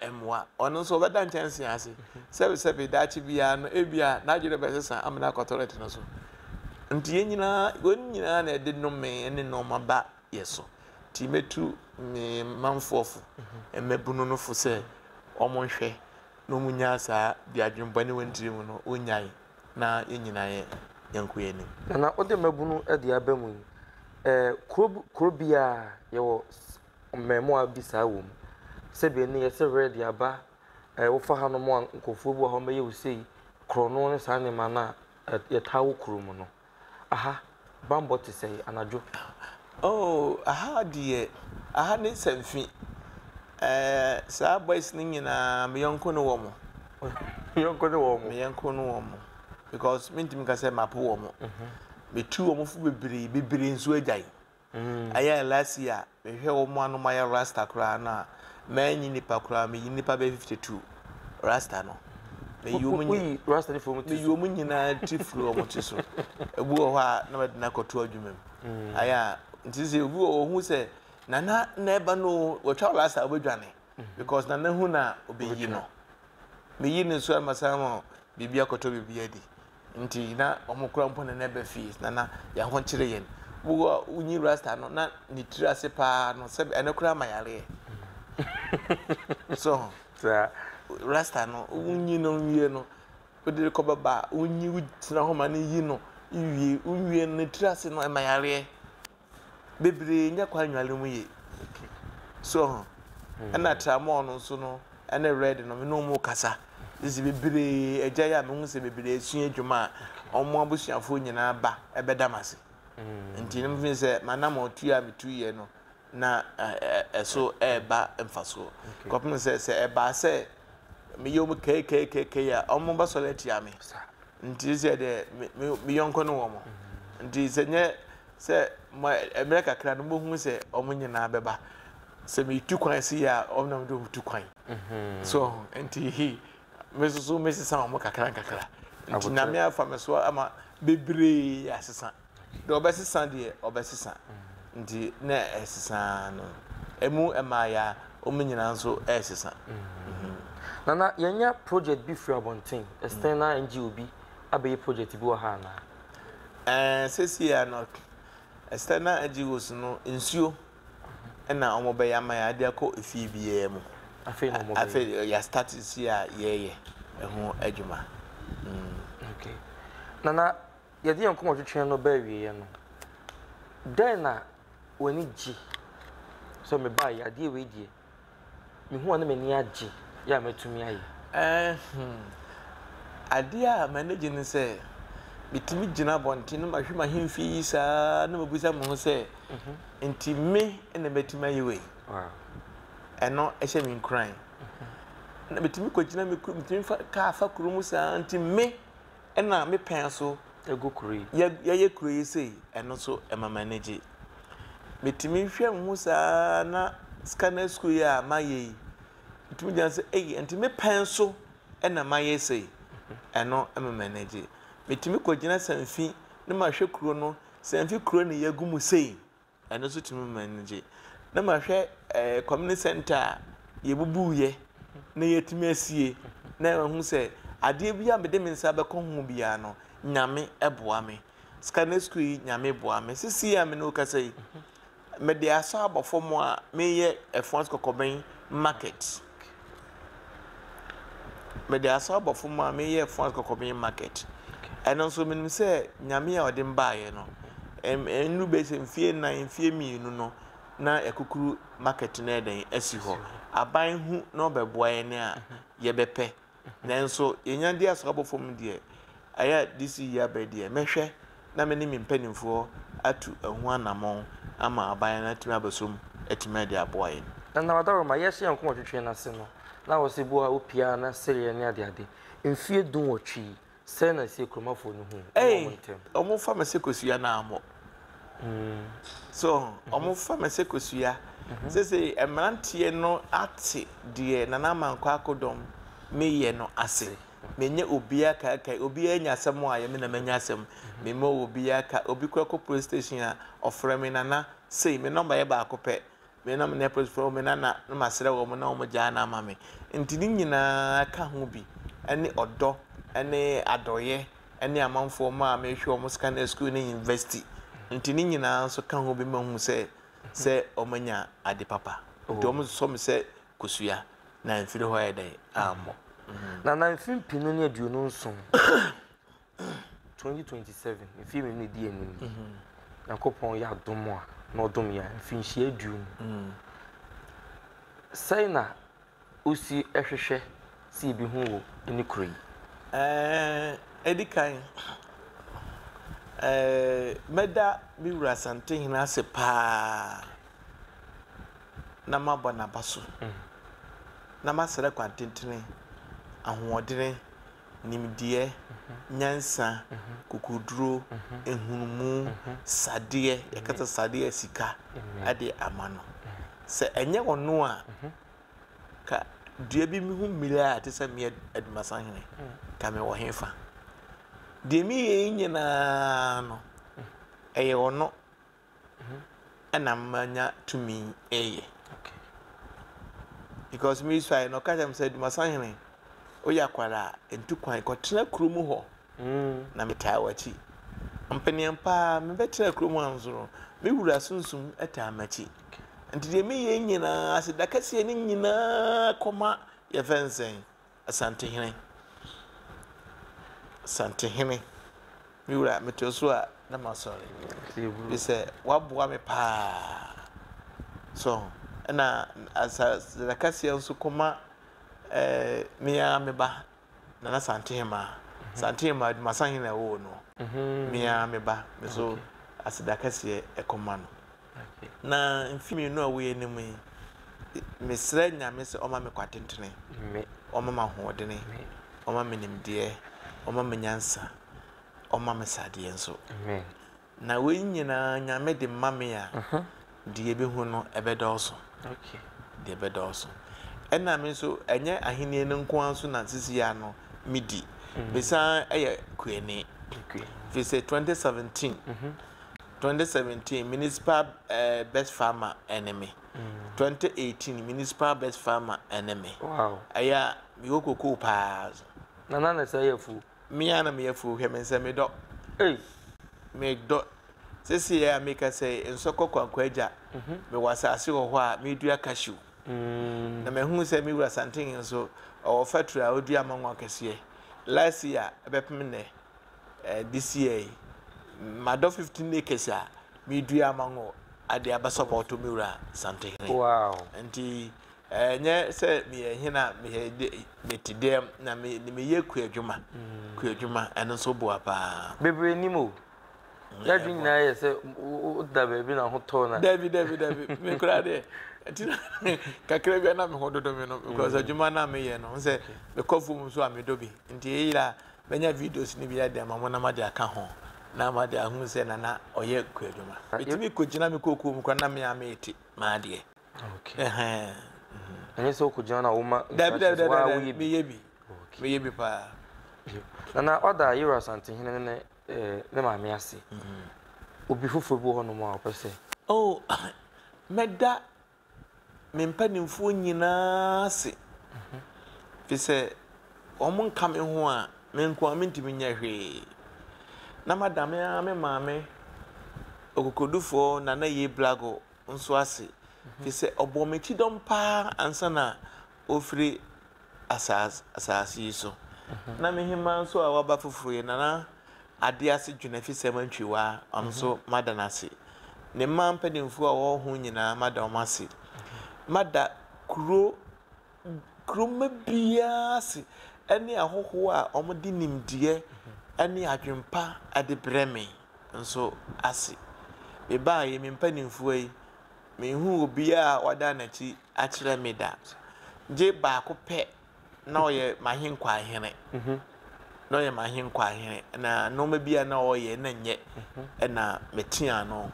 ɛmmoa ɔno nso ɔbɛda nkyɛnsee ase sɛbesɛbe daakye biara no ebia n'adwene bɛsesa amena akɔ tɔlɛt no so nti yɛn nyinaa wɔn nyinaa na ɛde nnome ne nneɛma ba yɛ so nti mɛtu me manfoɔfo mmabunu no fo sɛ wɔn nhwɛ na wɔn nyaa saa deɛ adwene bɔne wɔn tiri mu no wɔn nyae Na yɛn nyinaa yɛ yɛnko yɛn anim. Nana wode mmabunu de aba mu yi eh, kuro kuro biara yɛwɔ mmɛɛmoa bi saa wɔ mu. Sɛ bɛ ni yɛsɛ werɛ de aba eh, wofa hanom a nkurɔfoɔ bi wɔ hɔ mɛyɛ wo sei, korɔno ne saa nneɛma no a eh, yɛtaa wɔ kuro mu no. Aha banbɔ te sɛɛ anadwo. Oh aha deɛ aha ne sanfi. Ɛɛ saa boys no nyinaa me yɔnko ne wɔn. Me yɔnko ne wɔn. Me yɔnko ne wɔn because mentumi nka sɛ mapo wɔn. Metu wɔn fo bebree bebree nso agyae. Ɛyɛ a last year mehwɛ wɔn a na wɔayɛ rasta koraa no a, manyi nnipa koraa, meyi nnipa bɛyɛ fifty two rasta no. Meyi wɔn nyinaa Woyi rasta no fi wɔn ti meyi so. wɔn nyinaa ti firi wɔn ti so. Ebi wɔ hɔ a na mede no akɔto adwuma mu. Ayɛ a nti sɛ obi wɔ hɔ ohu sɛ Nana na ɛba no o, watwa wo rasta a wobɛdwane because Nana hu no a ɔbɛyi no. Meyi no nso a na masan ama biribi akɔtɔ biribi adi. Nti na ɔmo kura mpo ne nɛba fie na na yɛn ho kyere yɛn. Wo a wo nyi rasta no na ne tiri ase paa no sɛbe ɛno koraa ma yareɛ. So ho? Rasta no wo nyi no nwie no wo de rekɔ bɛba a wo nyi wo tena hɔ ma no yi no wo wie wo nwie no ne tiri ase no ɛma yareɛ. bebree nya kwan nnwale mu yie. So ho? Ɛna tramɔɔ no nso no ne red no me ne wɔn rekasa. Sisi bebree agya yi a mehu sɛ bebree asua adwuma a wɔn abusuafoɔ nyinaa ba bɛda me ase. Nti no mefeel sɛ m'anammɔntuo a metuiɛ no na ɛso ɛreba mfasoɔ. Kɔpem sɛ sɛ ɛbaa sɛ meyɛ wɔn kɛikɛikɛikɛi a wɔbɛsɔre atia me. Nti seesei deɛ me yɔnko ne wɔn. Nti sɛ nyɛ Sɛ ma mmerɛ kakra no mobɛhunu sɛ wɔn nyinaa bɛba. Sɛ metu kwan sei a, wɔn na mede wɔn tu kwan. So ho? Nti he, me nso so mesesa wɔn nkakrankakra. Nti Nyame afa me so ama bebree asesa. Deɛ ɔbɛsesa deɛ, ɔbɛsesa. Nti na ɛsesa ara no. Ɛmu mmaeɛ a, wɔn nyinaa nso resesa. Nana, yɛanya project bi firi abɔnten, Esther na NGO bi abɛyɛ project bi wɔ ha anaa? Ɛɛ sesie a no Esther na Agios no nsuo na wɔn bɛyɛ ama yɛ ade akɔ efie biara mu. Afei na wɔn bɛyɛ. Afei yɛ start sesie a yɛyɛ ɛho adwuma. Okay. Nana, yɛde yɛn nkɔmɔ twetwe no bɛ awieɛ no, dɛn na w'ani gye sɛ mebaa yi adeɛ wei deɛ? mehu a na m'ani agye yɛ a matumi ayɛ? Ɛhhmm. Adeɛ a m'ani gye ne sɛ metumi gyina abɔnten na mahwɛ m'ahemfie yi saa na mabisa me ho sɛ, Enti me na matumi ayɛ wei? Ɛno hyɛ me nkuran. Na metumi kɔgyina, metumi fa kaa fa kuro mu saa, Enti me? Ɛna me pɛn nso gu kuro yi. Yɛ yɛyɛ kuro yi sei. Ɛno nso ɛma m'ani gye. Metumi hwɛ me ho saa na Scanner sukuu yi a mayɛ yi, metumi gyina sɛ ei ɛnti me pɛn nso ɛna mayɛ sei. Ɛno ɛma m'ani gye. Metumi kɔgyina Sanfi na mahwɛ kuro no, Sanfi kuro na yɛagu mu sei. Ɛno nso tumi ma m'ani gye. Na mahwɛ ɛɛ community center a yɛbubuiɛ na yɛatumi asie na mahu sɛ adeɛ bi a mede me nsa bɛkɔ ho biara no Nyame boa me. Scanners school yi Nyame boa me. Sisi a me ne wo kasa yi mede asɔ abɔ fam a meyɛ Ɛfoa Kɔkɔbɛn market. Mede asaw aba fam a meyɛɛ France kɔkɔ me market. Ɛno nso menim sɛ Nyame a ɔde me baeɛ no, ɛnnu bɛyɛ sɛ mfeɛ nnan, mfeɛ mmienu no na akukuru market no ɛdɛn asi hɔ. Aban hu na ɔbɛboa yɛn a yɛbɛpɛ Nanso yɛnya di asrabɔ fam no deɛ, ayɛ a DC yi aba yi deɛ, mɛhwɛ na me ne me mpanimfoɔ atu ɛho anammɔn ama aban no atumi abɛsɔ mu atumi ade aboa yɛn. Nana Adaroma, yɛahyɛ yɛn nkɔm ɔtwetwe no ase no, na ɔse boa a wopia na sereɛ ne adeade. Mfeɛ dunwɔtwe yi, Sɛn na ɛsɛ kuromafoɔ no hu wɔ wɔn ntam? Ei, wɔfa me sɛ kosua naamɔ. Hmm. So, wɔfa me sɛ kosua. Mhm. Seesei, mmeranteɛ no ate deɛ Nana Amankwa akodɔm meyɛ no ase. Menyɛ obiara kaakae, obiara nya asɛm a yɛ me na manya asɛm. Mhm. Memmɔ obiara ka. Obi kora kɔ police station a, ɔfrɛ me Nana sei, me nɔmba yɛ baako pɛ. Me na me neighbours frɛ me na na na masrɛ wɔn na wɔn gyaa no ama me. Nti ne nyinaa ka ho bi ne ɔdɔ ne adɔeɛ ne amanfoɔ mma a mehwɛ wɔn sika ne sukuu ne university. Nti ne nyinaa nso ka ho bi ma hu sɛ sɛ wɔanya ade papa. Nti wɔn sɔ me sɛ kosua na mfiri hɔ ayɛ dɛn ammɔ. Na na mfe mpenu ne aduonu nson. 2027, mfeɛ mmienu ɛdi anim yi, Nyankopɔn yɛ adom a, na ɔdom yɛn a, mfinhyia aduonu. Sɛn na wosi hwehwɛ sɛ yɛbɛhu wɔ ne kuro yi? Ɛdi kan, mɛda me wura Asantehene ase paa na mabɔ n'aba so, na masrɛ kwan tentene, ahoɔdene, nimdeɛ, nyansa, kokoduro, nhunumu, sadeɛ, yɛka sɛ sadeɛ a sika de ama no. Sɛ ɛnyɛ ɔno a, ka dua bi ho mmire a ɛte sɛ mmea adumasahene, ka mewɔ hefa? Deɛ meyɛ yi nyinaa no, ɛyɛ ɔno ɛna manya tumi reyɛ. Because me suae no ɔka kyerɛ me sɛ Dumasahene woyɛ akwadaa a ntu kwan kɔtena kurom hɔ mm. na metaa w'akyi. Mpeneɛ paa mebɛtena kurom ha nso no me wura sunsum taa m'akyi. Nti deɛ meyɛ nyinaa aseda kɛseɛ no nyinaa kɔma yɛfɛ nsɛn Asantehene, Asantehene, me wura, meto so a na masɔre. Bi sɛ waboa me paa. So ɛna asasada kaseɛ nso kɔma ɛɛ eh, me ara me ba Nana Santehema. Mhm. Santehema Dumasahene na ɛwɔ no. Mhm. Me ara me ba me so aseda kaseɛ ɛkɔma no. Na mfe mmienu a woyɛ no mu yi, mesrɛ Nyame sɛ ɔma me kwatentene, ɔma me ahoɔdene, ɔma me nimdeɛ, ɔma me nyansa, ɔma me sadeɛ nso. Na wei nyinaa Nyame de ma me a, deɛ ɛbɛhu no ɛbɛdɔɔso. Deɛ ɛbɛdɔɔso. Ɛna me nso, ɛnyɛ ahenni no nko ara nso na sisi ya no medi. Mesan yɛ kuani. Firi sɛ 2017, Twenty seventeen Municipal best farmer ɛne me Twenty eighteen Municipal best farmer ɛne me Wow ɛyɛ a me wɔ kokoo paa so Na na na sɛ yɛ afuo Me a na me yɛ afuo hwɛ me nsɛ me dɔ Ei Me dɔ Sese yɛ a me ka sɛ nsɔkɔ kwankwa agya Me wɔ asase wɔ hɔ a me dua cashew Na ma hunu sɛ me wura santen nso ɔwɔ factory a ɔdua mango akɛseɛ Last year ɛbɛpem nnɛ eh, this year yi, madɔ 15 acres a medua mango ade abasa ma ɔtɔ me wura Santehene. Wow. Nti ɛnyɛ eh, sɛ meyɛ hena mete dɛm na meyɛ kuadwuma mm. kuadwuma ɛno nso boa paa bebree nim o mm, yɛadwe nyinaa yɛ sɛ woda baabi na ho tɔ na dabi dabi dabi mekora deɛ nti kakra bia na me ho dodo me no because mm. adwuma no a meyɛ no sɛ mekɔ fom nso a medɔ bi nti ɛyera Mɛnya videos no bi ara de ama mo na moade aka ho na moade ahunu sɛ Nana ɔyɛ kuadwuma. Metumi kɔgyina me kookoo mu koraa na me ara merete m'adeɛ. Okay. Ɛhɛn. Ɛnyɛ sɛ wokɔgyina no a woma instructions waa woyɛ bi. Meyɛ bi. Meyɛ bi paa. Nana ɔda Yero Asantehene ne ne ne maame ase. Obi foforɔ bi wɔ hɔnom a ɔpɛ sɛ. Oh, mɛda me mpanimfoɔ nyinaa ase, ɛfiri sɛ wɔnka me ho a, me nko ara mentumi nyɛ hwee. Na mada me ara me maame ɔkokodufoɔ Nana Yei Blago nso ase, ɛfiri sɛ ɔbɔɔ me kyidɔm paa ansa na ofiri asaas asaase yi so. Na me hemaa nso a waba foforo yi, Nana Ade Ase Dwenafisɛ Sɛm Antwiwa, ɔno nso mada no ase. Ne mmaa mpanimfoɔ a wɔwɔ ho nyinaa, mada wɔn ase. Mada kuro kuromma biara ase ne ahɔhoɔ a wɔde nimdeɛ ne adwempa de brɛ me nso ase. Mebaeɛ yi, me mpanimfoɔ yi, Minhuu obiara a wadan n'akyi akyerɛ me da, gye baako pɛ, na ɔyɛ m'ahenkwa hene. Na ɔyɛ m'ahenkwa hene, na nneɛma bi a na ɔreyɛ na nyɛ, ɛna meteaa no.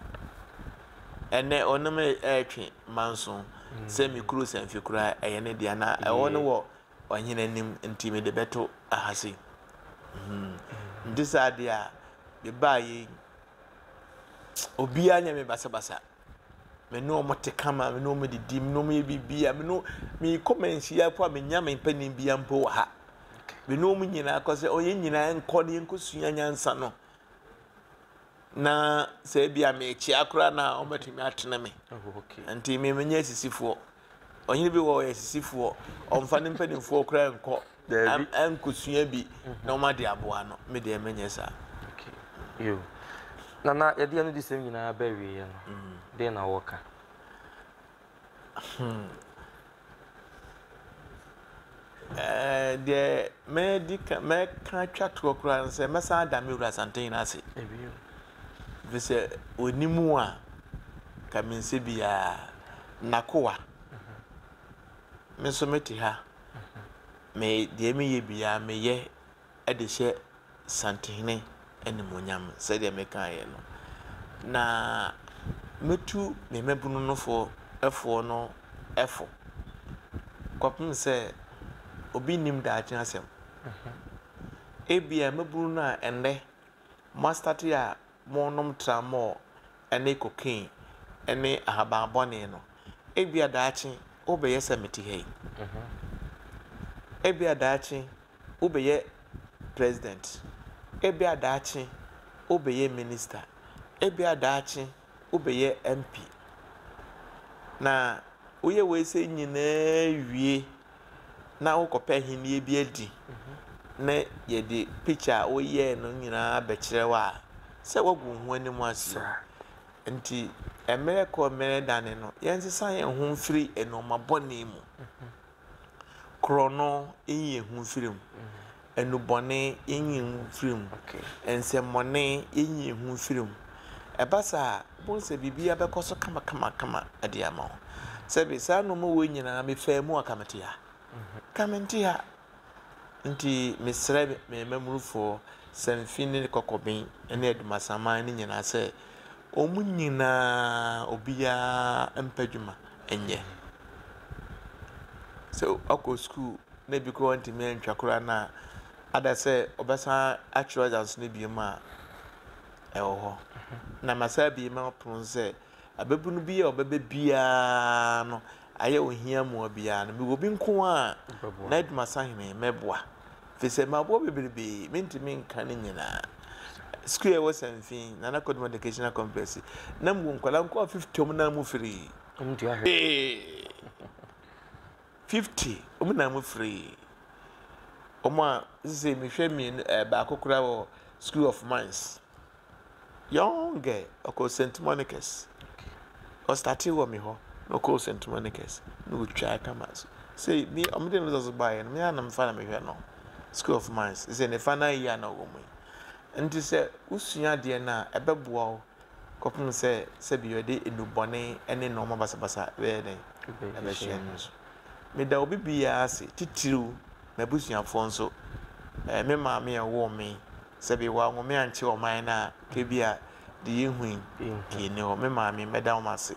Ɛnnɛ, ɔne me retwe manson sɛ me kuro Sanfi koraa ɛyɛ ne dea, na ɛhɔ no wɔ ɔhene anim, enti mede bɛto ha sei. Enti saa adeɛ a mebaa yei Obiara nyɛ me basabasa. Me ne wɔn te kama, me ne wɔn didi, me ne wɔn yɛ biribiara, me ne mekɔ manhyia po a menya me mpanin bia mpo wɔ ha. Me ne wɔn nyinaa kɔ sɛ ɔyɛ nyinaa nkɔ ne yɛnkɔ sua nyansa no. Na sɛ ebi a mekyea koraa na wɔbɛtumi atene me. Nti me menyɛ asisifoɔ. Ɔhene bi hɔ ɔyɛ sisifoɔ, ɔmfa ne mpanimfoɔ koraa nkɔ nkɔsua bi na ɔma de aboa no. Me deɛ menyɛ saa. Yo. Nana, yɛde anodisɛm nyinaa ba awieɛ no, mm. deɛ na wɔka? Hmm. Ɛɛ, deɛ mɛdi ka mɛka atwa toɔ koraa no sɛ mɛsan ada me wura Asantehene no ase ɛfiri sɛ ɔni mu a ka me nsɛ biara nakoa me nso mete ha me deɛ meyɛ biara meyɛ de hyɛ Santenhene animuonyam sɛdeɛ mekaeɛ no. Na mɛtu me mmabunu no fo foɔ no fo kɔpem sɛ obi nnim daakye asɛm. Ebia mmabunu no a ɛnnɛ moastate a morenom tramɔɔ ne cocaine ne ahaban bɔne no, ebia daakye wobɛyɛ sɛ mete ha yi. Ebia daakye. wobɛyɛ president, ebia daakye wobɛyɛ minister, ebia daakye wobɛyɛ MP. Na woyɛ weisei nyinaa wie na wokɔpɛ ahennie bi adi na yɛde picture a woyɛɛ no nyinaa bɛkyerɛ wo a, sɛ woagu wo ho anim ase. Nti mmerɛ kɔ mmerɛ dane no, yɛnsesa yɛn ho mfiri nnoɔma bɔne mu. Korɔno, enyi ehu mfir mu. Enubɔne, enyi ehu mfir mu. Nsɛmbɔne, enyi ehu mfir mu. Ɛba saa a, ibohu sɛ biribiara bɛkɔ so kamakamakama de ama wo. Sɛbe saa nnoɔma wei nyinaa mefaa mu a, anka mete ha? Anka mente ha. Nti mesrɛ me mmamunufoɔ, Samfin ne Kɔkɔben ne Adumasaman no nyinaa sɛ, Wɔn nyinaa obiara mpɛ adwuma nyɛ. Sɛ ɔkɔ sukuu na ebi koraa ɔntumi antwa koraa no a, ada sɛ ɔbɛsan akyerɛ ɔdze aso no bio mu a, ɛwɔ hɔ. Na masan abue m'apono no sɛ, ababunu bi a ɔbɛba biara no, ayɛ ohia mmoa biara no, mewɔ bi nko ara a n'adwuma sahene, mɛboa. Efisɛ maboa bebrebe, mentumi nka ne nyinaa. Sukuu a ɛwɔ Sanfi, Nana Kodum Educational Complex, na mewɔ nkwadaa nkoa fifty wɔn na mu firi. Wɔn tua hwee. Fifty wɔn na mu firi. Wɔn a sisi mehwɛ mmienu ɛɛ baako koraa wɔ School of Mines. Young girl, ɔkɔɔ St. Monica's. Ɔ startee wɔ me hɔ na ɔkɔɔ St. Monica's na ɔtwaa kama. So sei me ɔmo de results baeɛ no me ara na mefa na mehwɛ no. School of Mines sɛ ne final year na ɔwɔ mu yi. Nti sɛ wosua adeɛ no a ɛbɛboa wo kɔpem sɛ sɛbi ɔde nnubɔne ne nnoɔma basabasa bɛyɛ dɛn ɛbɛhyɛ no so. Meda obi biara ase titiriw m'abusuafoɔ nso. Ɛɛ me maame a ɔwoo me Sɛ bi wɔanwome ankyɛ ɔman no a, kɛ bi a deɛ yɛhui pii nni hɔ. Me maame, mɛda wo ase.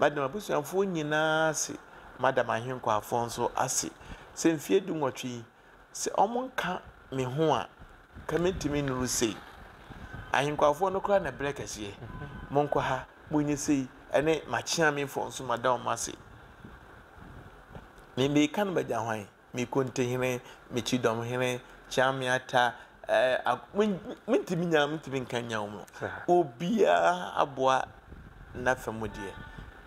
Mɛda m'abusuafoɔ nyinaa ase. Mada m'ahenkwaafoɔ nso ase. Sɛ mfeɛ du nwɔtwe yi, sɛ wɔnka me ho a, nka mentumi nnuru sei. Ahenkwaafoɔ no koraa na ɛberɛ kɛseɛ. Monkɔ ha, monyɛ sei, ɛne m'akyeamefoɔ nso mada wɔn ase. Deɛ mereka no bɛgya hwan? me Kontihene, me Kyidɔmhene, Kyeameata, eh, mentumi nya, mentumi nka nya wɔn. Obiara aboa n'afa mu deɛ.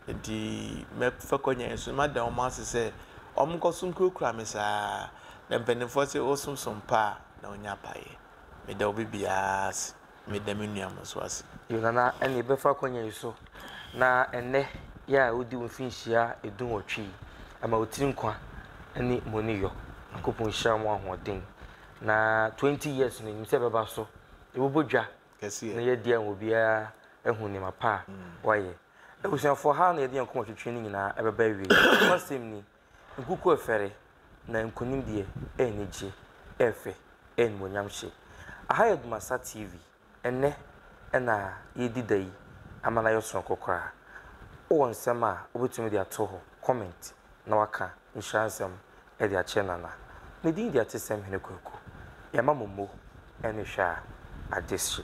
Nti mɛfa kɔ nyan so, mada wɔn ase sɛ wɔn nkɔ so nkurakura me saa. Na mpanimfoɔ sɛ wosom som pa a, na wonya apaeɛ. Meda obi biara ase. Meda me nua Amonso ase. Yo Nana ɛne yɛbɛfa akwanya yi so na ɛnɛ yɛ a wodi wo mfinhyia edunwɔtwe yi ɛma wo tiri nkwa ɛne moni yɔ Nyankopɔn nhyira mo ahoɔden na 20 years no nim sɛ ɛbɛba so yɛbobɔ dwa na yɛadi ama obiara ahu nneɛma pa a wayɛ Abusuafoɔ ha na yɛde yɛn koma twetwe no nyinaa ɛbɛba awiei nokwasɛm ni Nkuku ɛfɛre, na nkunim deɛ ɛɛnigye, ɛɛfɛ, ɛɛnimuonyam hyɛ. Aha yɛ Dumasa TV, ɛnnɛ ɛna yɛɛdi da yi ama no ayɛ sononko koraa. Wowɔ nsɛm a wobɛtumi de ato hɔ, comment, na waka nhyira nsɛm de akyerɛ Nana. Ne din de Atesɛm Hene Kwaku. Yɛma mo mmo ne hwɛ a, agyesye.